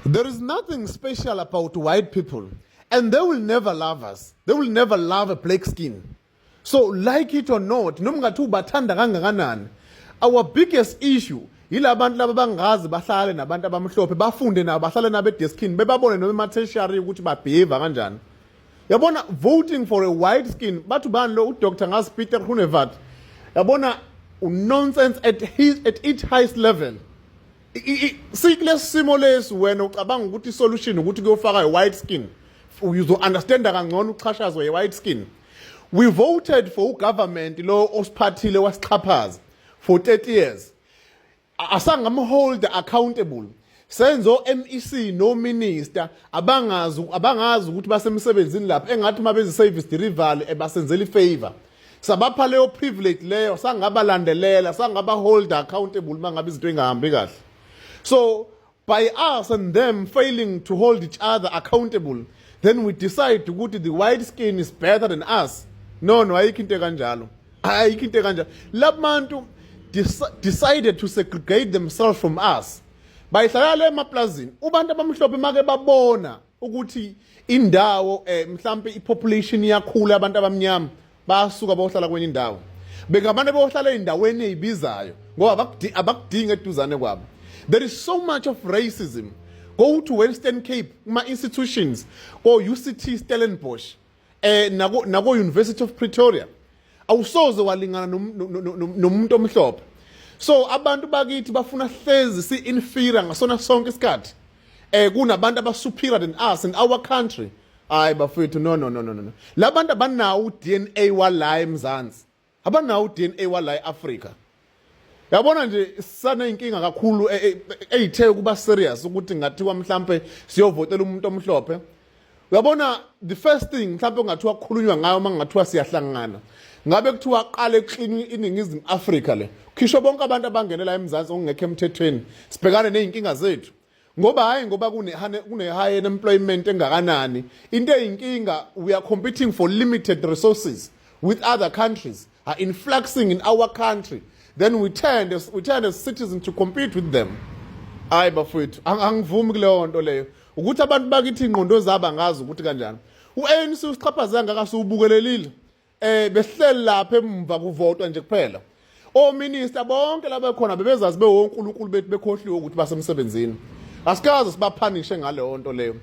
There is nothing special about white people and they will never love us. They will never love a black skin. So like it or not, noma ngathi ubathanda kangakanani, our biggest issue yila bantu laba bangazi bahlale nabantu abamhlophe bafunde nabo bahlale nabo edeskini bebabone noma ematheshari ukuthi babheva kanjani yabona voting for a white skin bathu bani lo udr ngazi peter hunevat yabona unonsense at, his, at its highest level sikulesi simo lesi wena ucabanga ukuthi isolution ukuthi kuyofaka i-white skin uzo-understanda kangcono uchashazwa ye-white skin we voted for ugovernment lo osiphathile wasixhaphaza for 30 years asangamhold accountable senze o-MEC no minister abangazi abangazi ukuthi basemsebenzini lapha engathi uma benze service delivery ebasenzela ifavor sabapha leyo privilege leyo sangabalandelela sangaba hold accountable mangabe izinto ingahambi kahle so by us and them failing to hold each other accountable then we decide ukuthi the white skin is better than us no no ayikho into kanjalo ayikho into kanjalo labantu decided to segregate themselves from us bayihlala le emaplazini ubantu abamhlophe make babona ukuthi indawo eh mhlambe ipopulation iyakhula abantu abamnyama basuka bayohlala kwenye indawo bengabantu abayohlala ezindaweni ezibizayo ngoba abakudinga eduzane kwabo there is so much of racism go to western cape kuma-institutions ko-uct stellenbosch eh nako nako University of Pretoria awusoze walingana nomuntu omhlophe so abantu bakithi bafuna hlezi si inferior ngasona sonke isikhathi eh kunabantu abasuperior than us in our country hayi bafethu no no no no no labantu abanawo DNA wala eMzansi abanawo DNA wala eAfrica yabona nje sisaneyinkinga kakhulu e, e, eyithe ukuba serious ukuthi ngathiwa mhlambe siyovotela umuntu omhlophe uyabona the first thing mhlambe kungathiwa kukhulunywa ngayo uma kungathiwa siyahlangana ngabe kuthiwa aqale ekuxini iningizimu afrika le khisho bonke abantu abangenela emzansi okungekho emthethweni sibhekane ney'nkinga zethu ngoba hayi ngoba kune-high employment engakanani into eyinkinga we are competing for limited resources with other countries are influxing in our country then we tend as, we tend as citizens to compete with them hayi bafowethu angivumi kuleyo nto leyo ukuthi abantu bakithi ingqondo zabo angazi ukuthi kanjani u-anc usixhaphaze angaka siwubukelelile eh behleli lapha emva kuvotwa nje kuphela ominister bonke laba khona bebezazi bewonkulunkulu bethu bekhohliwe ukuthi basemsebenzini asikaze sibaphanishe ngaleyo nto leyo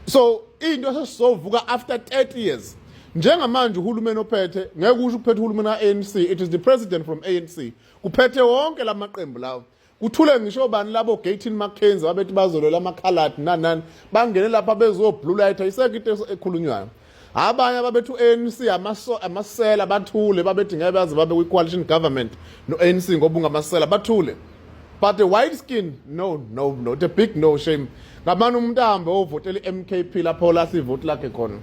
so into esesizovuka after 30 years njengamanje uhulumeni ophethe ngeke usho ukuphethe uhulumeni ka-anc it is the president from anc kuphethe wonke la maqembu lawo kuthule ngisho bani labo gatin mackenzie abethi bazolwela amakhaladi nanani bangene lapha bezoblue light ayisekho into ekhulunywayo abanye ababethi u-anc amasela bathule babethi ngeke baze babe kwi-coalition government no-anc ngoba ungamasela bathule but a white skin no no no the big no shame ngamane umuntu ahambe ovotela i-mkp lapho olahla ivoti lakhe khona